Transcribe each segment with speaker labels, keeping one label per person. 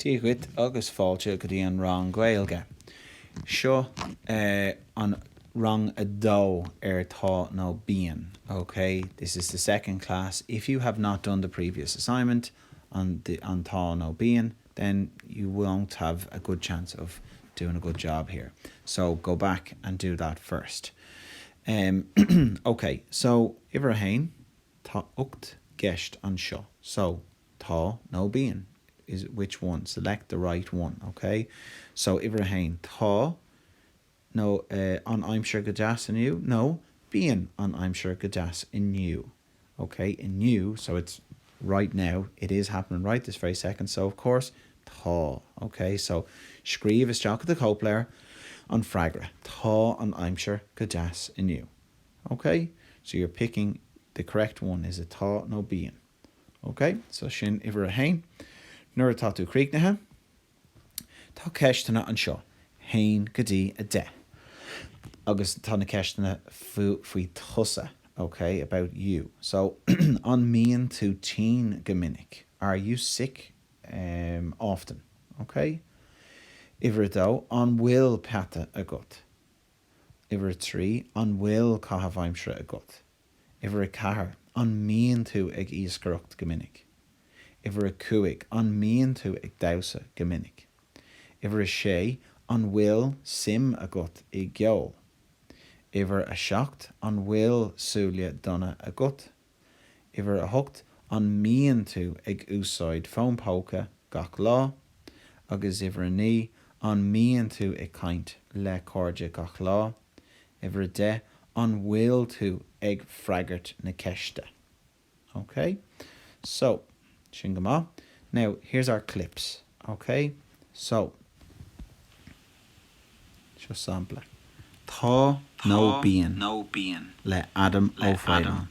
Speaker 1: Dia duit agus fáilte go dtí an rang Gaeilge. Seo eh an rang a dó ar tá nó bíonn, ok? This is the second class. If you have not done the previous assignment on the an tá nó bíonn then you won't have a good chance of doing a good job here. So go back and do that first. Em ok so uimhir a haon. Tá ocht gceist anseo. So, Tá nó Bíonn, is, Which one? Select the right one, OK? So, uimhir a haon, Tá, nó, eh, an aimsir go deas inniu, nó, Bíonn an aimsir go deas inniu, OK? Inniu, so it's right now, it is happening right this very second, so of course, Tá, OK? So, scríobh isteach i do chóipleabhar an freagra, Tá an aimsir go deas inniu. OK? So you're picking the correct one, is it Tá nó Bíonn? OK? So sin uimhir a haon. Nuair atá tú críochnaithe, tá ceisteanna anseo, haon go dtí a deich. Agus tá na ceisteanna faoi tusa, OK? About you. So An mbíonn tú tinn go minic? Are you sick ehm often? OK? Uimhir a dó, An bhfuil peata agat? Uimhir a trí, an bhfuil caitheamh aimsire agat? Uimhir a ceathair, an mbíonn tú ag iascaireacht go minic? Uimhir a cúig, an mbíonn tú ag damhsa go minic? Uimhir a sé, an bhfuil suim agat i gceol? Uimhir a seacht, an bhfuil súile donna agat? Uimhir a hocht, an mbíonn tú ag úsáid fón póca gach lá? Agus uimhir a naoi, an mbíonn tú ag caint le cairde gach lá? Uimhir a deich, an bhfuil tú ag freagairt na ceiste? Ok? So, sin go maith. Now, here's our clips. Ok? So. Seo sampla, Tá nó Bíonn le Adam Ó Faoláin.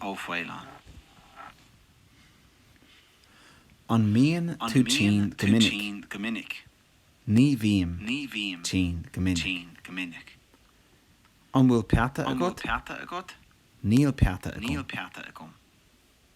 Speaker 1: An mbíonn tú tinn go minic? Ní bhím tinn go minic. An bhfuil peata agat? Níl peata agam.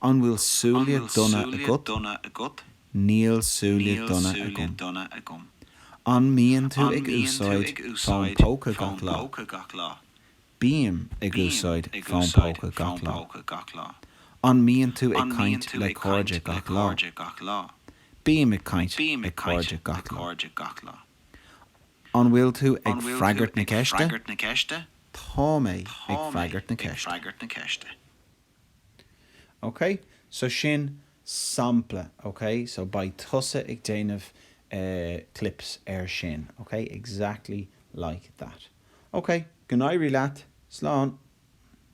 Speaker 1: An bhfuil súile donna agat? Níl súile donna agam. An mbíonn tú ag úsáid fón póca gach lá? Bím ag úsáid fón póca gach lá. An mbíonn tú ag caint le cairde gach lá? Bím ag caint le cairde gach lá. An bhfuil tú ag freagairt na ceiste? Tá mé ag freagairt na ceiste. OK, so sin sampla, OK, so beidh tusa ag déanamh clips ar sin, OK, exactly like that. OK, go n-éirí leat, slán!